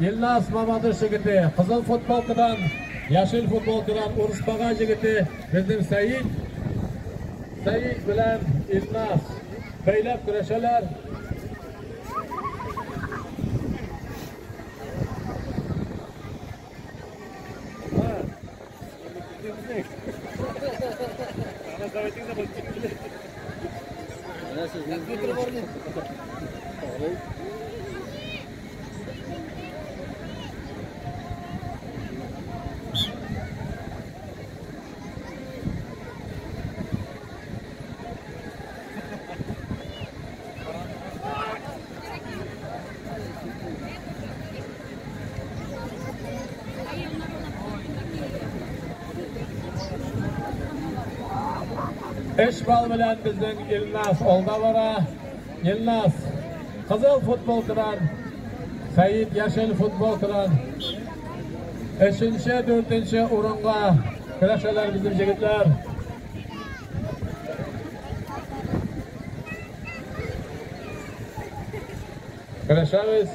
Илназ Мамадыш егете, кызыл футболкадан, яшел футболкадан Урысбага егете, безнең Сәид, Сәид белән Илназ бәйләп көрәшәләр. Gracias. Эш бал белән безнең Илназ алда бара. Илназ, кызыл футболкадан, Сәет яшел футболкадан. Өченче, дүртенче урынга көрәшәләр безнең җегетләр. Көрәшәбез.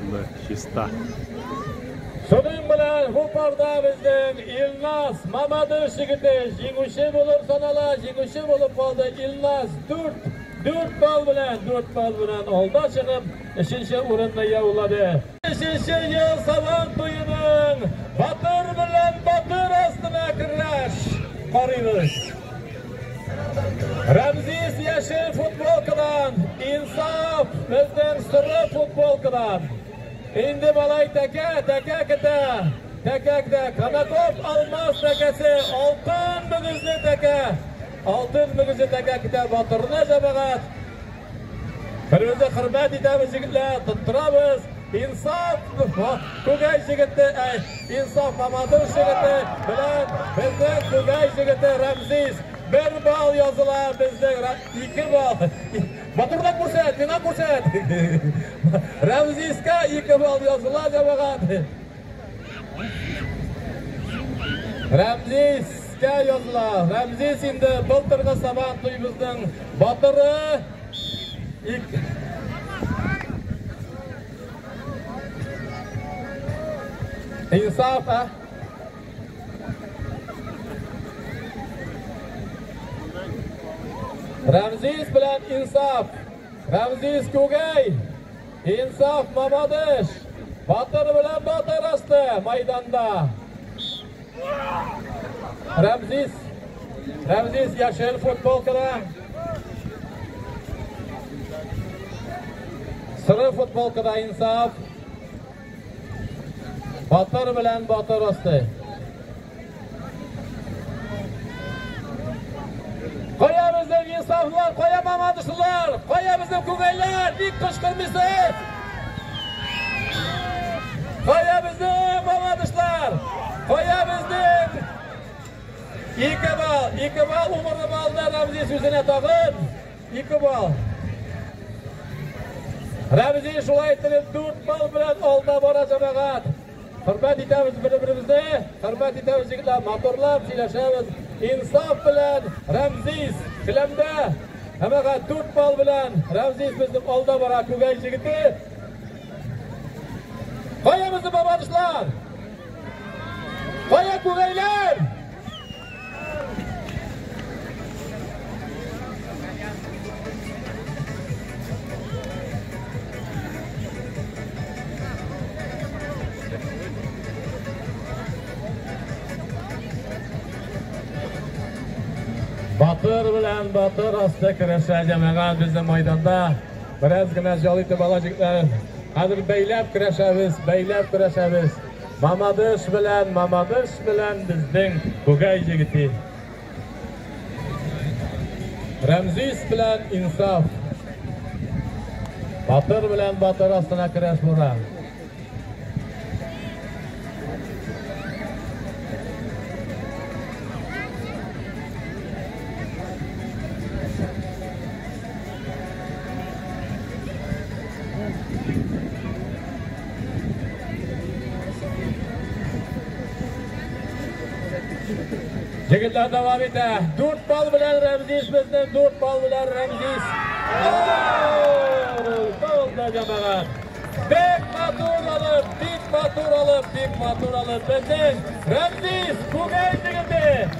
Аны чиста. Шуның белән бу парда безнең Илназ Мамадыш егете җиңүче булып санала. Җиңүче булып калды Илназ 4 4 балл белән 4 балл белән алда чыгып, өченче урынны яулады. Өченче ел сабан туеның батыр белән батыр астына көрәш карыйбыз. Рәмзис яшел футболкадан, Инсаф безнең соры футболкадан. Инде малай тәкә, тәкә китә. Тәкәкдә Канаков алмаз тәкәсе, алтын мөгезле тәкә. Алтын мөгезле тәкә китә батырына җәмәгать. Беребезне хөрмәт итәбез, егетләр, тоттырабыз. Инсаф Күгәй җегете, әй, Инсаф Мамадыш җегете белән безнең Күгәй җегете Рәмзис. Бер бал языла безнең, ике бал. Матурлап күрсәт, миңа күрсәт. Рәмзискә ике бал языла, җәмәгать. Рәмзис кә языла. Рәмзис инде былтыргы сабан туйбызның батыры. Инсаф, ә? Рәмзис белән Инсаф. Рәмзис Күгәй. Инсаф, мамадыш! Батыр белән батыр асты майданда. Рәмзис, Рәмзис яшел футболкада. Сыры футболкада инсаф. Батыр белән батыр асты. Кая безнең инсафлар, кая мамадышылар, кая безнең күңелләр, ник кычкырмыйсыз? Кая безнең мамадышлар, кая безнең ике бал, ике бал умырны балда Рамзи сүзенә тагын, ике бал. Рамзи шулай иттереп дүрт бал белән алда бара җәмәгать. Хөрмәт итәбез бер-беребезне, хөрмәт итәбез егетләр, моторлап сөйләшәбез. Инсаф белән Рәмзис Келәмдә һәмәгә дүрт бал белән Рәмзис безнең алда бара күгәй җегете. Кая безнең бабанышлар? Кая күгәйләр? Батыр белән батыр асты көрәшә җәмәгать безнең майданда. Бераз генә җал итеп алачаклар. Хәзер бәйләп көрәшәбез, бәйләп көрәшәбез. Мамадыш белән, Мамадыш белән безнең Бугай җегете. Рәмзис белән Инсаф. Батыр белән батыр астына керәш бура. Егетләр дәвам итә. Дүрт бал белән Рәмзиш безне, дүрт бал белән Рәмзиш. Тозда җамағат. Бик матур алып, бик матур алып, бик матур алып. Безнең Рәмзиш күгәй егете.